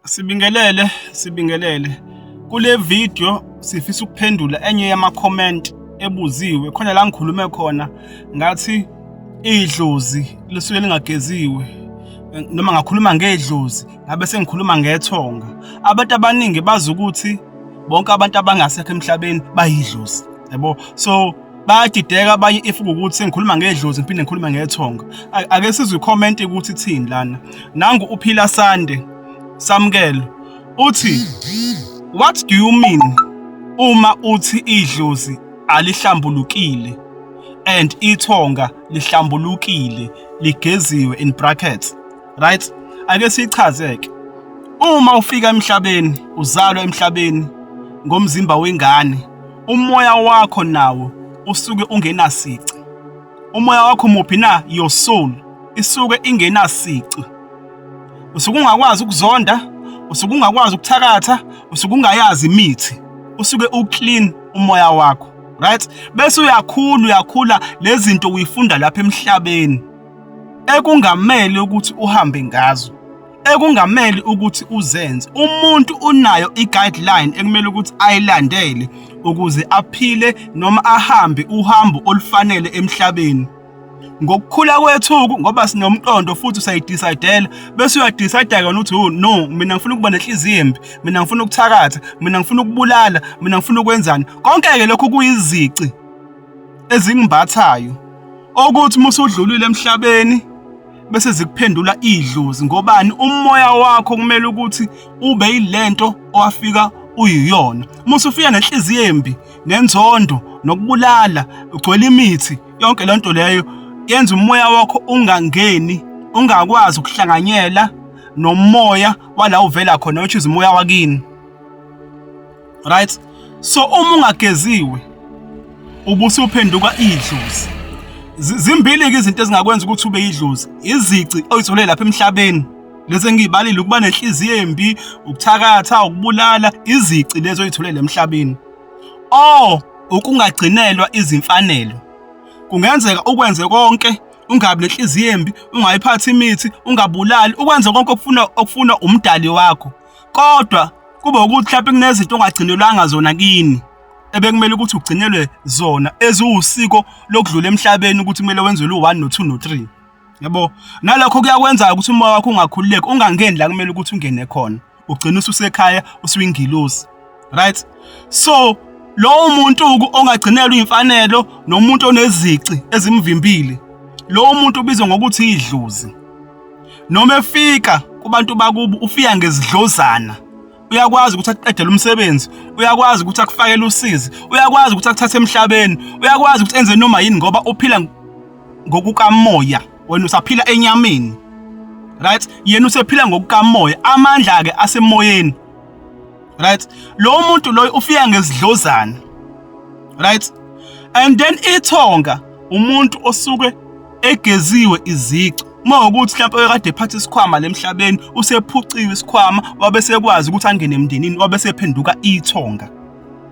Sibingelele, sibingelele. Kule video sifisa ukuphendula enye yama-comment ebuziwe khona la ngikhulume khona ngathi idlozi lisuke lingageziwe noma ngakhuluma ngedlozi ngabe sengikhuluma ngethonga. Abantu abaningi bazi ukuthi bonke abantu abangasekho emhlabeni bayidlozi. Yabo? So bayadideka abanye if ukuthi sengikhuluma ngedlozi ngiphinde ngikhulume ngethonga ake sizwe comment ukuthi thini lana nangu uphila sande samkelo uthi what do you mean uma uthi idlozi alihlambulukile and ithonga lihlambulukile ligeziwe in brackets right ake sichazeke uma ufika emhlabeni uzalwa emhlabeni ngomzimba wengane umoya wakho nawo usuke ungenasici umoya wakho muphi na your soul isuke ingenasici usuke ungakwazi ukuzonda usuke ungakwazi ukuthakatha usuke ungayazi imithi usuke uclean umoya wakho right bese uyakhula uyakhula lezinto uyifunda lapha emhlabeni ekungamele ukuthi uhambe ngazo ekungamele ukuthi uzenze umuntu unayo i-guideline ekumele ukuthi ayilandele ukuze aphile noma ahambe uhambo olufanele emhlabeni ngokukhula kwethuku ngoba sinomqondo futhi usayidecidela bese uyadecide kona ukuthi oh no mina ngifuna ukuba nenhliziyo embi mina ngifuna ukuthakatha mina ngifuna ukubulala mina ngifuna ukwenzani konke ke lokho kuyizici ezingimbathayo okuthi uma usudlulile emhlabeni bese zikuphendula idlozi ngobani umoya wakho kumele ukuthi ube yilento owafika uyiyona musu ufika nenhliziyo embi nenzondo nokubulala ugcwele imithi yonke lento leyo yenza umoya wakho ungangeni ungakwazi ukuhlanganyela nomoya wala uvela khona which is umoya wakini right so uma ungageziwe ubusi uphenduka idlozi zimbili ke izinto ezingakwenza ukuthi ube idlozi izici oyithole lapha emhlabeni lezi engiyibalile ukuba nenhliziyo embi ukuthakatha ukubulala izici lezo oyitholele emhlabeni o ukungagcinelwa izimfanelo kungenzeka ukwenze konke ungabi nenhliziyo embi ungayiphathi imithi ungabulali ukwenze konke okufuna okufuna umdali wakho kodwa kube ukuthi mhlawumbe kunezinto ongagcinelwanga zona kini ebekumele ukuthi ugcinelwe zona eziwusiko lokudlula emhlabeni ukuthi kumele wenzelwe u-1 no-2 no-3 yabo nalokho kuyakwenza ukuthi umoya wakho ungakhululeki ungangeni la kumele ukuthi ungene khona ugcina ususekhaya usuyingilosi right so lowo muntu ongagcinelwa imfanelo nomuntu onezici ezimvimbile lowo muntu ubizwa ngokuthi idlozi noma efika kubantu bakubo ufika ngezidlozana uyakwazi ukuthi akuqedele umsebenzi uyakwazi ukuthi akufakele usizi uyakwazi ukuthi akuthathe emhlabeni uyakwazi ukuthi enze noma yini ngoba uphila ngokukamoya wena usaphila enyameni right yena usephila ngokukamoya amandla ke asemoyeni right lo muntu loyo ufika ngezidlozana right and then ithonga umuntu osuke egeziwe izici uma ukuthi mhlawumbe oyekade ephatha isikhwama lemhlabeni usephuciwe isikhwama wabe sekwazi ukuthi angene emndenini wabe sephenduka ithonga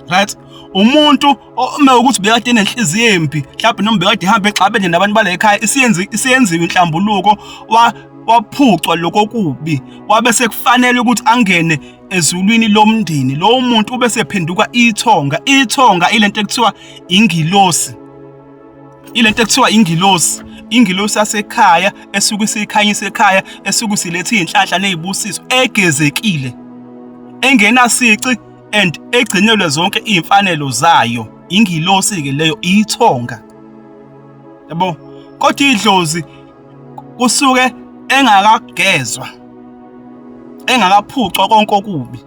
right umuntu uma ukuthi bekade enenhliziyo embi mhlawumbe noma bekade ihamba exabene nabantu bala ekhaya isiyenzi isiyenziwe inhlambuluko wa waphucwa lokho kubi wabe sekufanele ukuthi angene ezulwini lomndeni lowo muntu ube sephenduka ithonga ithonga ilento ekuthiwa ingilosi ilento ekuthiwa ingilosi ingilosi yasekhaya esuke isikhanyisa ekhaya esuke silethe izinhlanhla nezibusiso egezekile engenasici and egcinelwe zonke iy'mfanelo zayo ingilosi-ke leyo iyithonga yabo kodwa idlozi kusuke engakagezwa engakaphucwa konke okubi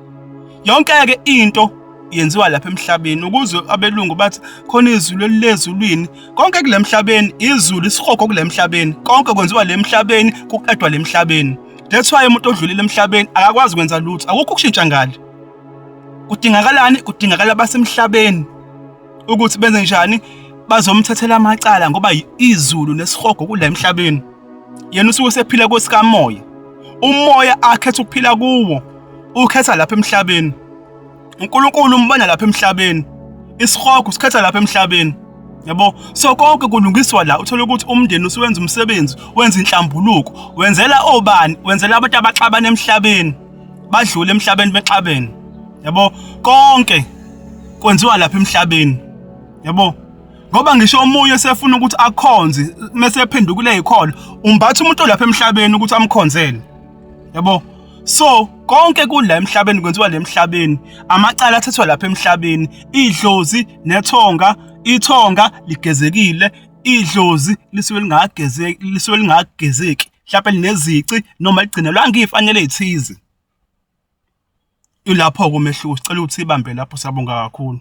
yonke-ke into yenziwa lapha emhlabeni ukuze abelungu bathi khona izulu elilezulwini konke kule mhlabeni izulu isihogo kule mhlabeni konke kwenziwa le mhlabeni kuqedwa le mhlabeni that's why umuntu odlulile emhlabeni akakwazi kwenza lutho akukho ukushintsha ngale kudingakalani kudingakala basemhlabeni ukuthi benze njani bazomthathela amacala ngoba izulu nesihogo kula emhlabeni yena usuke sephila kwesikamoya umoya akhetha ukuphila kuwo ukhetha lapha emhlabeni uNkulunkulu umbona lapha emhlabeni isihogo sikhetha lapha emhlabeni yabo so konke kulungiswa la uthola ukuthi umndeni usuwenza umsebenzi wenza inhlambuluko wenzela obani wenzela abantu abaxabana emhlabeni badlule emhlabeni bexabene yabo konke kwenziwa lapha emhlabeni yabo ngoba ngisho omunye sefuna ukuthi akhonze mese ephendukile ikholo umbatha umuntu olapha emhlabeni ukuthi amkhonzele yabo so konke kula emhlabeni kwenziwa le emhlabeni amacala athathwa lapha emhlabeni idlozi nethonga ithonga ligezekile idlozi lisuke lingagezeki lisuke lingagezeki mhlawumbe linezici noma ligcine lwange ifanele ethize ilapho-ke umehluko sicela ukuthi ibambe lapho sabonga kakhulu